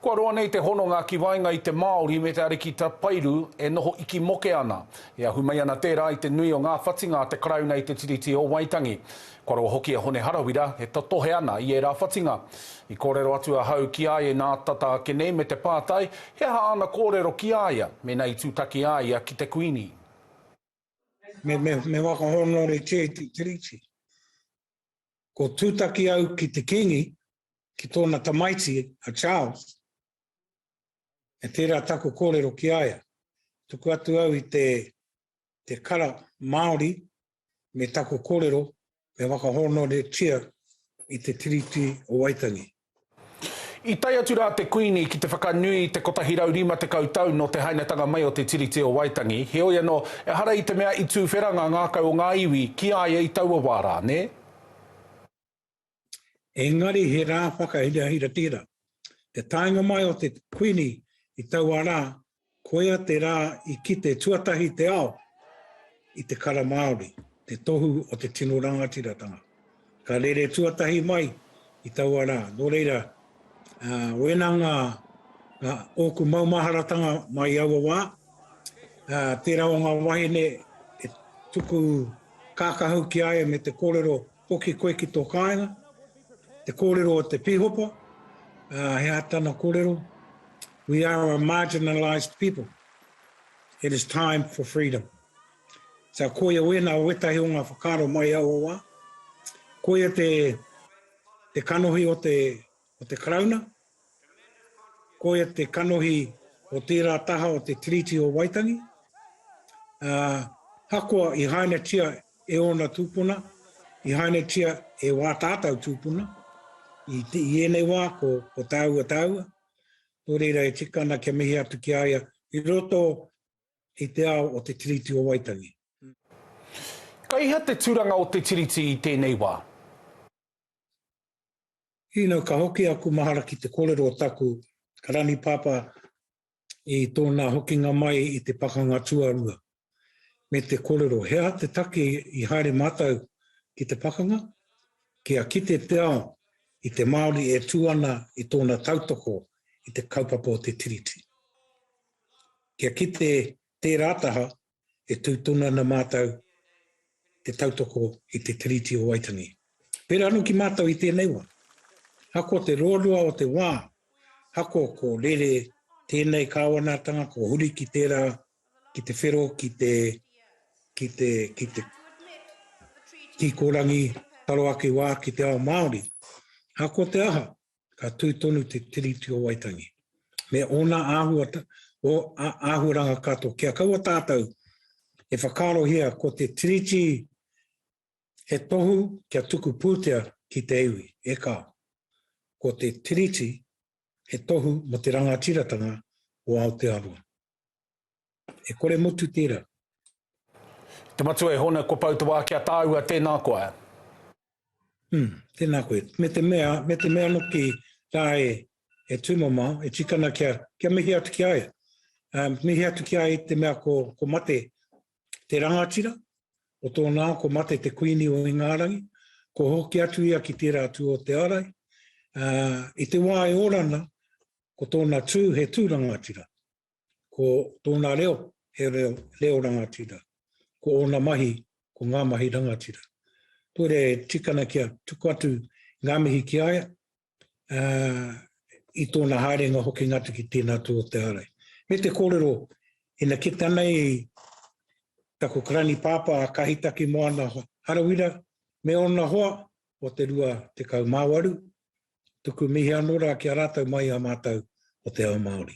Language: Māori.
Kua roa nei te hononga ki waenga i te Māori me te ariki tapairu e noho iki moke ana. E ahu mai ana tērā i te nui o ngā whatinga a te Karauna i te Tiriti o Waitangi. Kua roa hoki a Hone Harawira e totohe ana i ērā whatinga. I kōrero atu ahau ki a ia inā tata ake nei me te pātai he aha āna kōrero ki a ia mēnā i tūtaki a ia ki te Kuini. Me whakahōnore kē te Tiriti. Ko tūtaki au ki te Kīngi, ki tōna tamaiti a Charles, e tērā taku kōrero ki a ia. Tuku atu au i te, te kara Māori me taku kōrero me whakahōnoretia i te Tiriti o Waitangi. I tae atu rā te Kuini ki te whakanui i te 150 tau nō te hainatanga mai o te Tiriti o Waitangi, heoi anō, ehara i te mea i tūwhera ngā ngākau o ngā iwi ki a ia i taua wā rā, nē? Engari he rā whakahirahira tērā. Te taenga mai o te Kuini i taua rā Koia te rā i kite tuatahi te ao i te kara Māori, te tohu o te tino rangatiratanga. Ka rere tuatahi mai i taua rā, nō reira, ā, wēnā ngā, ngā, ōku maumaharatanga mā i aua wā, ā, tērā o ngā wahine e tuku kākahu ki a ia me te kōrero Hoki koe ki tō kāinga, te kōrero o te pīhopa, ā, he aha tana kōrero? We are a marginalised people. It is time for freedom. Sa koia wēnā o wētahi o ngā whakaaro mai i aua wā. Koia te, te kanohi o te o te Karauna, koia te kanohi o tērā taha o te Tiriti o Waitangi, ā, ahakoa i hainatia e ōna tūpuna, i hainatia e wā tātau tūpuna, i, i ēnei wā ko, ko tāua tāua, nō reira e tika ana kia mihi atu ki a ia i roto i te ao o te Tiriti o Waitangi. Kei hea te turanga o te Tiriti i tēnei wā? You know, ka hoki aku mahara ki te korero o taku rani papa i tona hokinga mai i te pakanga tuarua, me te korero, he aha te take i haere matou ki te pakanga? Kia kite te ao i te Maori e tu ana i tona tautoko i te kaupapa o te Tiriti. Kia kite tera taha e tū tonu ana mātou te tautoko i te Tiriti o Waitangi. Pērā anō ki mātou i tēnei wā, ahakoa te ruarua o te wā, ahakoa ko rere tēnei kāwanatanga, ko huri ki tērā, ki te whero, ki te, ki te, ki te kikorangi taro ake wā ki te ao Māori, ahakoa te aha, ka tū tonu te Tiriti o Waitangi, me ōna āhua, o, a, āhuaranga katoa. Kia kaua tātou e whakaarohia ko te Tiriti he tohu kia tuku pūtea ki te iwi, e kā. Ko te Tiriti he tohu mo te rangatiratanga o Aotearoa. E kore motu tera. Te Matua e Hona, kua pau te wā ki a tāua, tēnā koa. Hmm, tēnā koe. Me te mea, me te mea noki tā e, e tūmama, e tikana kia, kia mihi atu ki a ia. Um, mihi atu ki a ia te mea ko, ko mate te rangatira, o tōna ko mate te kuini o Ingarangi, ko hoki atu ia ki tērā tū o te arai. Uh, I te wā e orana, ko tōna tū he tū rangatira. ko tōna reo, he reo, reo rangatira. Ko ōna mahi, ko ngā mahi rangatira. Kore tikana kia tuku atu ngā mihi ki aia, uh, i tōna haerenga hoki ngatu ki tēnā tū o te ārai. Me te kōrero, ina ki tanei taku karani pāpā a Kahitaki Moana Harawira, me ōna hoa o te rua te kau māwaru, tuku mihi anō rā ki a rātou mai a mātou o te ao Māori.